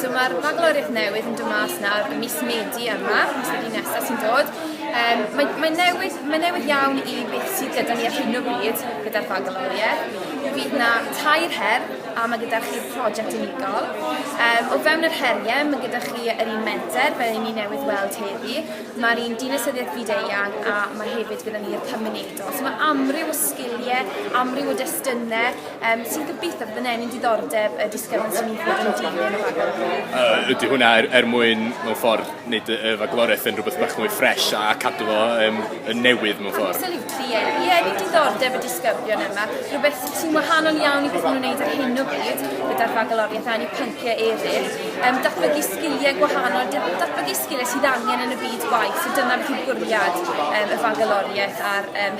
So mae'r bagloriaeth newydd yn dod mas nawr y mis Medi yma, mis Medi nesaf sy'n dod. Um, mae, mae, newydd, mae newydd iawn i beth sydd gyda ni ar hyn o bryd gyda'r bagloriaeth. Bydd na tair her a mae gyda chi'r prosiect unigol. Um, o fewn yr heriau, mae gyda chi yr un menter, fel ni newydd weld heddi. Mae'r un dinasyddiaeth fyd eang a mae hefyd gyda ni'r cymunedol. So mae amryw o sgiliau, amryw o destunau, um, sy'n gobeithio bod yn enyn diddordeb y disgyblion sy'n mynd i fod yn dilyn y rhaglen. Uh, ydy hwnna er, er mwyn mewn ffordd wneud y, y fagloraeth yn rhywbeth bach mwy ffres a cadw fo um, yn newydd mewn ffordd. Absolutely, ie. Yeah. Ie, yeah, diddordeb y disgyblion yma. Rhywbeth sy'n wahanol iawn i beth nhw'n gwneud ar hyn o bryd gyda'r rhagloriaeth a'n i pynciau eraill. Um, datblygu sgiliau gwahanol, datblygu sgiliau sydd angen yn y byd gwaith, so dyna beth yw'r bwriad um, y fagaloriaeth a'r um,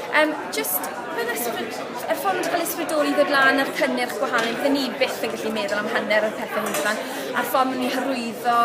Yym jyst fel ysbryd- y ffordd fel ysbrydoli ddod lan a'r cynnyrch gwahanol ni bydde ni byth yn gallu meddwl am hanner o'r pethe ni blant a'r ffordd ma' nw'n hyrwyddo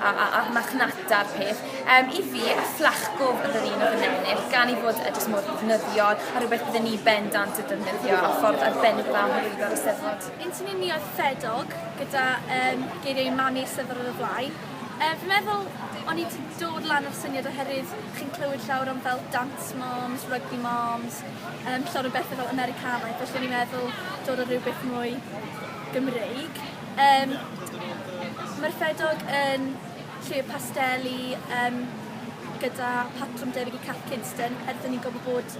a a a'r marchnata'r peth yym i fi y fflachgo o'dd yr un o'dd yn ennill gan 'i fod e jyst mor ddefnyddiol a rwbeth bydde ni bendant yn defnyddio a ffordd arbennig o dda o hyrwyddo'r Eisteddfod. Interlunio Fedog gyda yym geiriau Mani Eisteddfod ar y flaen. Yy fi'n meddwl o'n i 'di dod lan a'r syniad oherwydd chi'n clywed llawer am fel dance moms, rugby moms yym llawer o bethe fel Americanaidd felly o'n i'n meddwl dod â rywbeth mwy Gymreig. Yym ma'r ffedog yn lle pasteli yym gyda patrwm debyg i Cath Kidston er 'dyn ni'n gwbo bod